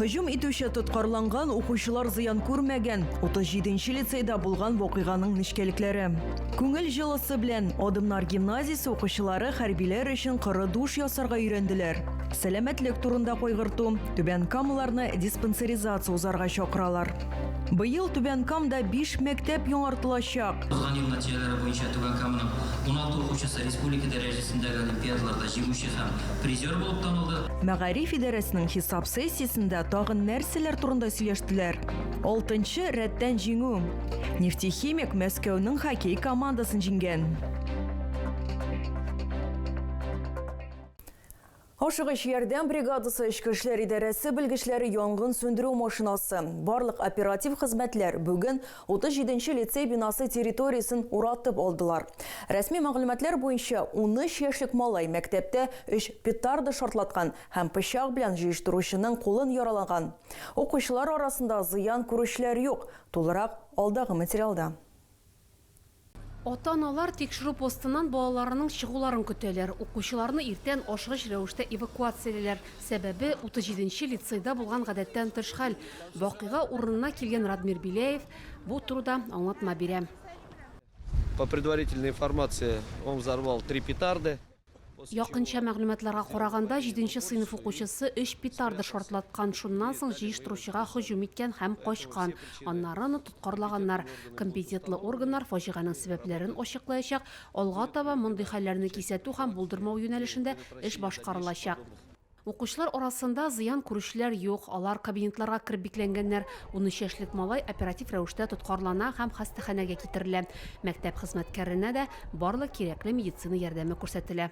Һөҗүм итүче тоткарланган, укучылар зыян күрмәгән 37 нче лицейда булган вакыйганың нечкәлекләре. Күңел җылысы белән Адымнар гимназиясе укучылары хәрбиләр өчен коры душ ясарга өйрәнделәр. Сәламәтлек турында кайгырту, Түбән Камлыларны диспансеризация узарга чакыралар. Быел Түбән Камда биш мәктәп яңартылачак. Узган ел нәтиҗәләре буенча Түбән Каманың уналты укучысы республика дәрәҗәсендәге олимпиадаларда җиңүче һәм призер булып танылды. Мәгариф идарәсенең хисап сессиясендә тагын нәрсәләр турында сөйләштеләр? Алтынчы рәттән җиңү. Нефтехимик Мәскәүнең хоккей командасын җиңгән. Ашыгыч ярдәм бригадасы, эчке эшләр идарәсе белгечләре, янгын сүндерү машинасы, барлык оператив хезмәтләр бүген 37 нче лицей бинасы территориясен уратып алдылар. Рәсми мәгълүматлар буенча, унөч яшьлек малай мәктәптә өч петарда шартлаткан һәм пычак белән җыештыручының кулын яралаган. Укучылар арасында зыян күрүчеләр юк, тулырак алдагы материалда. Ата-аналар тикшерү постыннан балаларының чыгуларын көтәләр. Укучыларны иртән ашыгыч рәвештә эвакуациялиләр. Сәбәбе, 37 нче лицейда булган гадәттән тыш хәл. Вакыйга урынына килгән Радмир Беляев бу турыда аңлатма бирә. По предварительной информации, он взорвал три петарды. Якынча мәгълүматларга караганда, җиденче сыйныф укучысы өч петарда шартлаткан, шуннан соң җыештыручыга һөҗүм иткән һәм качкан. Аннары аны тоткарлаганнар. Компетентлы органнар фаҗиганең сәбәпләрен ачыклаячак. Алга таба мондый хәлләрне кисәтү һәм булдырмау юнәлешендә эш башкарылачак. Укучылар арасында зыян күрүчеләр юк, алар кабинетларга кереп бикләнгәннәр. Унөч яшьлек малай оператив рәвештә тоткарлана һәм хастаханәгә китерелә. Мәктәп хезмәткәренә дә барлык кирәкле медицина ярдәме күрсәтелә.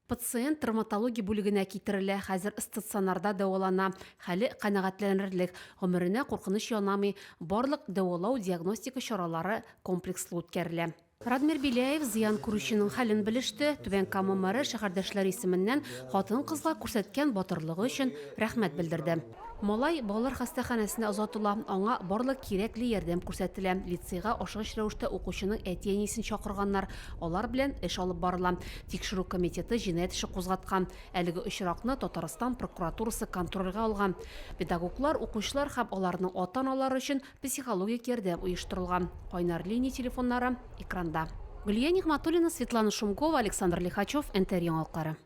Пациент травматология бүлегенә китерелә, хәзер стационарда дәвалана. Хәле канәгатьләнерлек, гомеренә куркыныч янамый, барлык дәвалау-диагностика чаралары комплекслы үткәрелә. Радмир Беляев зыян күрүченең хәлен белеште, Түбән Кама мэры шәһәрдәшләре исеменнән хатын-кызга күрсәткән батырлыгы өчен рәхмәт белдерде. Малай балалар хастаханәсенә озатыла, аңа барлык кирәкле ярдәм күрсәтелә. Лицейга ашыгыч рәвештә укучының әти-әнисен чакырганнар, алар белән эш алып барыла. Тикшерү комитеты җинаять эше кузгаткан. Әлеге очракны Татарстан прокуратурасы контрольгә алган. Педагоглар, укучылар һәм аларның ата-аналары өчен Психологик ярдәм оештырылган. Кайнар линия телефоннары экранда. Гөлия Нигъматуллина, Светлана Шумкова, Александр Лихачев, НТР яңалыклары.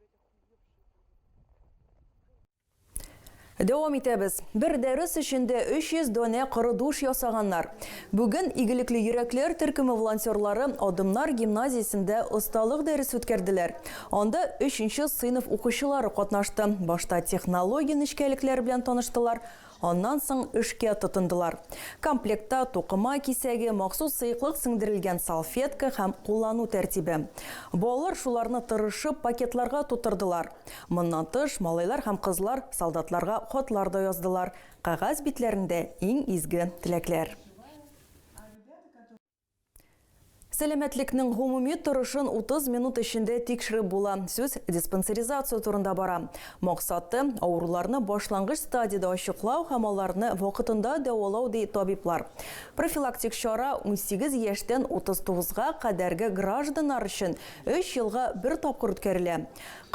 Дәвам итәбез. Бер дәрес эчендә 300 донә коры душ ясаганнар. Бүген игелекле йөрәкләр төркеме волонтерлары Адымнар гимназиясендә осталык дәресе үткәрделәр. Анда 3 нче сыйныф укучылары катнашты. Башта технология нечкәлекләре белән таныштылар, Аннан соң эшкә тотындылар. Комплектта тукыма кисәге, махсус сыеклык сеңдерелгән салфетка һәм куллану тәртибе. Балалар шуларны тырышып пакетларга тутырдылар. Моннан тыш, малайлар һәм кызлар солдатларга хатлар да яздылар, кәгазь битләрендә иң изге теләкләр. Сәламәтлекнең гомуми торышын 30 минут эчендә тикшереп була. Сүз диспансеризация турында бара. Максаты, авыруларны башлангыч стадиядә ачыклау һәм аларны вакытында дәвалау, ди табиблар. Профилактик чара 18 яшьтән 39 га кадәрге гражданнар өчен өч елга бер тапкыр үткәрелә.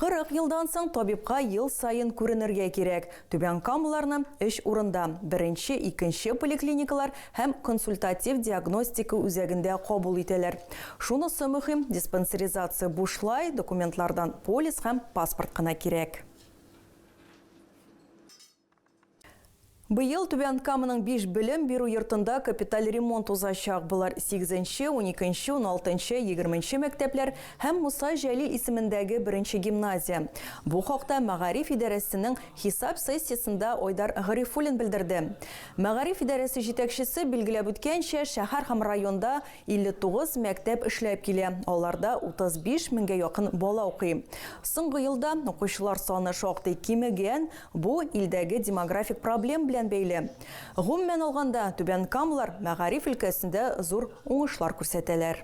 40 елдан соң табибка ел саен күренергә кирәк, Түбән Камаларны өч урында, беренче, икенче поликлиникалар һәм консультатив-диагностика үзәгендә кабул итәләр. Шунысы мөһим, диспансеризация бушлай, документлардан полис һәм паспорт кына кирәк. Быел Түбән Каманың биш белем бирү йортында капиталь ремонт узачак. Болар сигезенче, уникенче, уналтынчы, егерменче мәктәпләр һәм Муса Җәлил исемендәге беренче гимназия. Бу хакта мәгариф идарәсенең хисап сессиясендә Айдар Гарифуллин белдерде. Мәгариф идарәсе җитәкчесе билгеләп үткәнчә, шәһәр һәм районда 59 мәктәп эшләп килә, аларда 35 меңгә якын бала укый. Соңгы елда укучылар саны шактый кимегән, бу илдәге демографик проблем белән бәйле. Гомумән алганда, түбәнкамлылар мәгариф өлкәсендә зур уңышлар күрсәтәләр.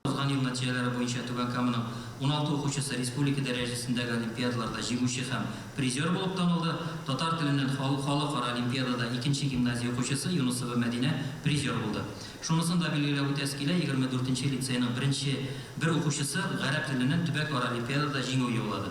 Узган ел нәтиҗәләре буенча Түбән Каманың уналты укучысы республика дәрәҗәсендәге олимпиадаларда җиңүче һәм призер булып танылды, татар теленнән халыкара олимпиадада икенче гимназия укучысы Юнысова Мәдинә призер булды. Шунысын да билгеләп үтәсе килә, егерме дүртенче лицейның беренче бер укучысы гарәп теленнән төбәкара олимпиадада җиңү яулады.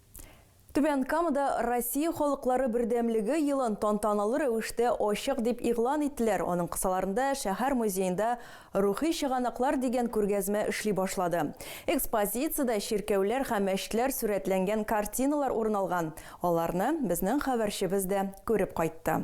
Түбән Камада Россия халыклары бердәмлеге елын тантаналы рәвештә ачык дип игълан иттеләр, аның кысаларында шәһәр музеенда Рухи чыганаклар дигән күргәзмә эшли башлады. Экспозициядә чиркәүләр һәм мәчетләр сурәтләнгән картиналар урын алган, аларны безнең хәбәрчебез дә күреп кайтты.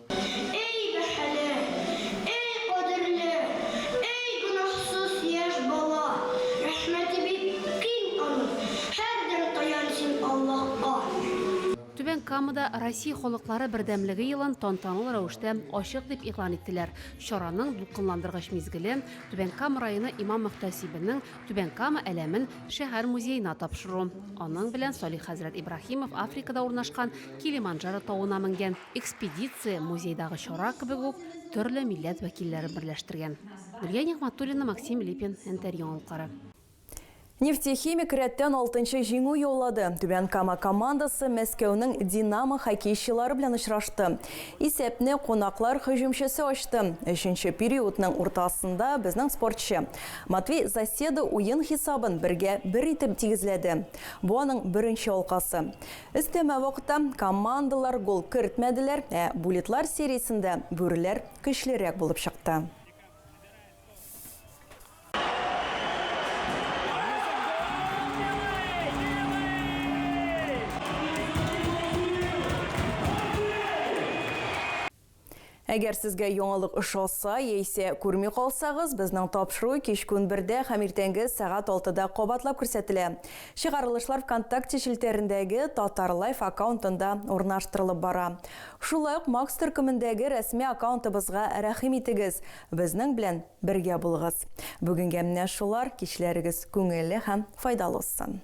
Эй бәһале, эй кадерле, эй гөнаһсыз яшь бала, рәхмәте бик киң аның, һәрдәм таян син Аллаһка. Түбән Камада Россия халыклары бердәмлеге елын тантаналы рәвештә ачык дип игълан иттеләр. Чараның дулкынландыргыч мизгеле Түбән Кама районы имам-мөхтәсибенең Түбән Кама әләмен шәһәр музеена тапшыру. Аның белән Салих хәзрәт Ибраһимов Африкада урнашкан Килиманджаро тавына менгән. Экспедиция музейдагы чара кебек үк төрле милләт вәкилләрен берләштергән. Гөлия Нигъмәтуллина, Максим Липин, НТР яңалыклары. Нефтехимик рәттән алтынчы җиңү яулады. Түбән Кама командасы Мәскәүнең Динамо хоккейчылары белән очрашты. Исәпне кунаклар һөҗүмчесе ачты. Өченче периодның уртасында безнең спортчы Матвей Заседа уен хисабын бергә бер итеп тигезләде. Бу аның беренче алкасы. Өстәмә вакытта командалар гол кертмәделәр, ә буллитлар сериясендә бүреләр көчлерәк булып чыкты. Әгәр сезгә яңалык ошаса, яисә күрми калсагыз, безнең тапшыру кичкүн бердә һәм иртәнге сәгать алтыда кабатлап күрсәтелә. Чыгарылышлар ВКонтакте челтәрендәге Татарлайф аккаунтында урнаштырылып бара. Шулай ук Макс төркемендәге рәсми аккаунтыбызга рәхим итегез, безнең белән бергә булыгыз. Бүгенгә менә шулар, кичләрегез күңелле һәм файдалы узсын!